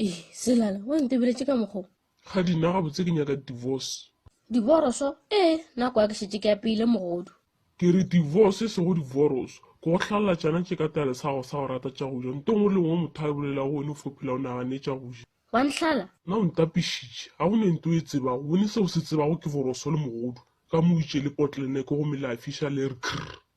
ee selala wa ntebeletše ka mokgo ga dina gabotse ke nyaka divorce diboroso ee nako ya ke šetse ke apeile mogodu ke re divorce e sego divorce ke go hlalela tšana tše ka tale sa go sa go rata tša go ja nto ngwe le ngwe motho a e bolela go wene o fophela o nagane tša go ja wa ntlhala na o ntapišitše ga go ne nto e tsebago wene seo se tsebago ke boroso le mogodu ka mo itše le potleneke go melafiša le re krr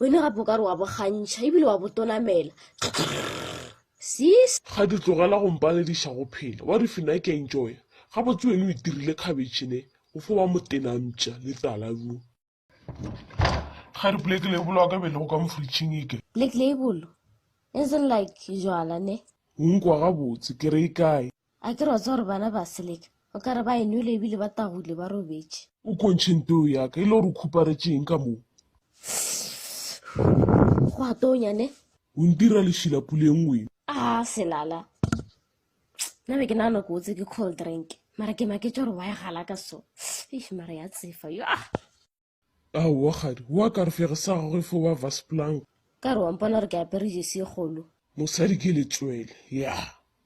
Wena gape o ka re wa bo gantšha ebile wa bo tonamela. Sis. Ga di tlogela go mpalediša go phela. Wa re fina ke enjoya. Gabotse wena o itirile khabetšhe ne, o fo ba motenampša le tala bjoo. Ga re black label wa ka be le go ka mo fridging e ke. Black label? As in like jwala ne? O nkwa gabotse, ke re e kae? A ke re wa tseba gore bana ba seleka o ka re ba e nwele ebile ba tagwile ba robetše. O kgontšhe nteo ya ka e le gore o khuparetše eng ka moo? Go a tonya ne. O ntira lešila puleng we. A selala. Nna be ke nagana ko otse ke cold drink mara ke maketše gore wa e galaka so. Eish mara ya tsefa yo. Aowa kgadi, wa ka re fere sa gagwe fo ba Vasplang. Ka re wa mpona gore ke apere jesi e kgolo. Mosadi ke letswele, ya.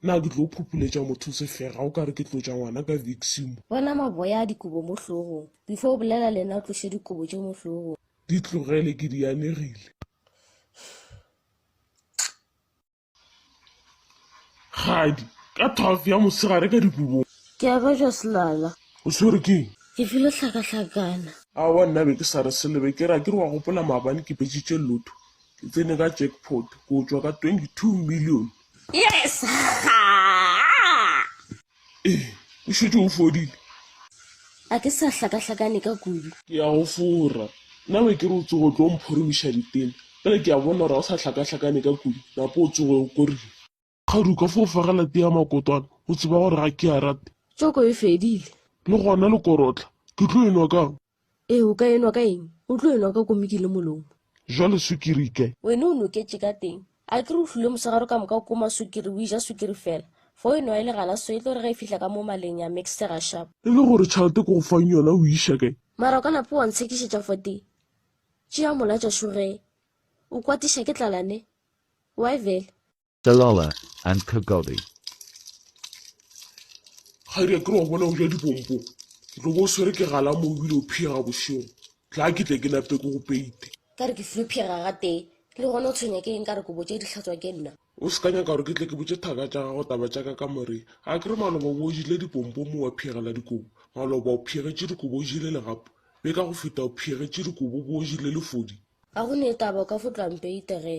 Na ke tlo phupuletša motho sefega o ka re ke tlotša ngwana ka viksimo? Bona maboya a dikobo mo hlogong. Before o bolela le nna o tloše dikobo tše mo hlogong. Di tlogele, ke di anegile. kgadi ka twelve ya mosegare ka dikobong ke a ka ja selala o swere ke eng ke file hlakahlakana awa nna be ke sa re selebe ke ra ke re wa gopola maabane ke betsitše lotho ke tsene ka jackpot ko tswa ka twenty two million yes Ee, o šetše o fodile. A ke sa hlakahlakane ka kudu. Ke ya go fora. Nna be ke re o tsoge o tlo mphorimiša ditene, bjale ke a bona gore ga o sa hlakahlakane ka kudu, napa o tsoge o korile. Kgadi o ka fo fagela tee ya makotwana, o tseba gore ga ke a rate. Tšoko e fedile. Le gona lekorotla ke tlo e nwa kang? Ee, o ka enwa ka eng? O tlo enwa ka komiki le molomo. Jwale sukiri ke. Wene o noketše ka teng. A ke re o hlwile mosegare o ka moka o koma sukiri, o eja sukiri fela. Fa o enwa e le galaso, e tlo re ge e fihla ka mo maleng ya mixtega shap. E le gore tšhalete ke go fang yona o iša ke. Mara o ka napa wa ntshekišetša fote. Tšea mola tša šuge. O kwatiša ke tlala ne. Why vele? Dalola and Kagodi. ga di a ke re wa bona o ja dipompo o tlo bo o swere ke gala mo ebile o phiega bošego tla ke tle ke nape ke go peite ka re ke flu phiega ga tee le gona o tshwenya ke eng ka re kobo tše di hlatswa ke nna o se ka nyaka gore ke tle ke botše thaka tša gago taba tša ka ka moreng a ke re maloba bo o jile dipompo mo wa phiegela dikobo maloba o phiegetše dikobo o jile legapo be ka go feta o phiegetše dikobo bo o jile lefodi ga go ne taba o ka fo tloang peite ge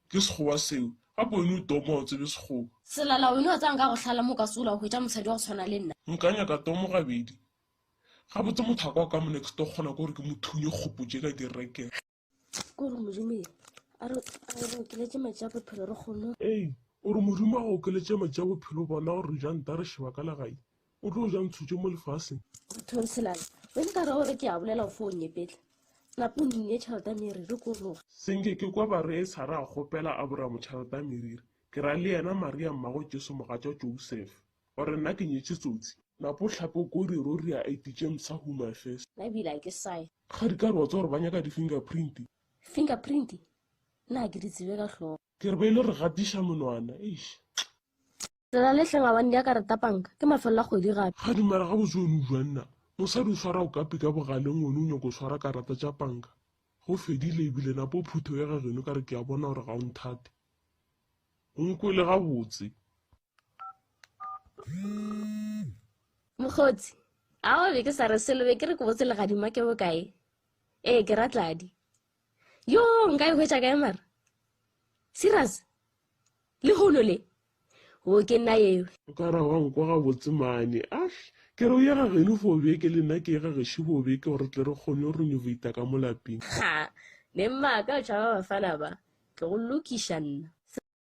Ke sekgowa seo. Gape wena o toma o tsebe sekgowa. Selala wena o tsang ka go hlala mo o ka sola o hwetša mosadi wa go tshwana le nna. Nka nyaka tomo gabedi. Gabotse mothaka wa ka mo next door kgona ke gore ke mo thunye kgopo tše ka di reke. Ke gore Modimo ee a re a re okeletše matši a bophelo re kgone. Ee, o re Modimo a go okeletše matši a bophelo bona gore re ja nta re šeba ka legai. o tlo ja ntshutše mo lefaseng thonselane o nka ra gore ke a bolela fo o nyepetla napo o nne tšhelete ya meriri ko loga senke ke kwa ba re sara a kgopela aboramo tšhelete ya meriri ke ra le yena maria mmago jesu mogatša joseph gore nna ke nyetše tsotsi napo tlhape ko re ro rea id tše msa who my first nna ebile a ke sae ga di ka re wa tsa gore ba nyaka di-finger print fingerprint nna ke di tsebe ka tlhogo ke re ba ile re gatiša monwana eish Lela le tleng abane ya kareta panka ke mafelelo a kgwedi gape. Ga dumela gabotse wena o jwa nna mosadi o swara okapi ka bogaleng wena o nyako swara karata tša panka go fedile ebile napo phuthe o ya ga geno ka re ke a bona gore ga o nthate o nkwele gabotse. Mokgotsi, Aowa be ke sa re selo be ke re ke botse legadima ke bokae? Ee ke ra Tladi. yo nka e hwetša kae mara serious le hono le o ke nna ewe o ka ra wa nkwa ga botsemane ash ke re o ye ga geno fo beke le nna ke ye ga geši fo beke gore tle re kgone go renovata ka mo lapeng ha ne mmaka o tšhaba bafana ba ke go lokiša nna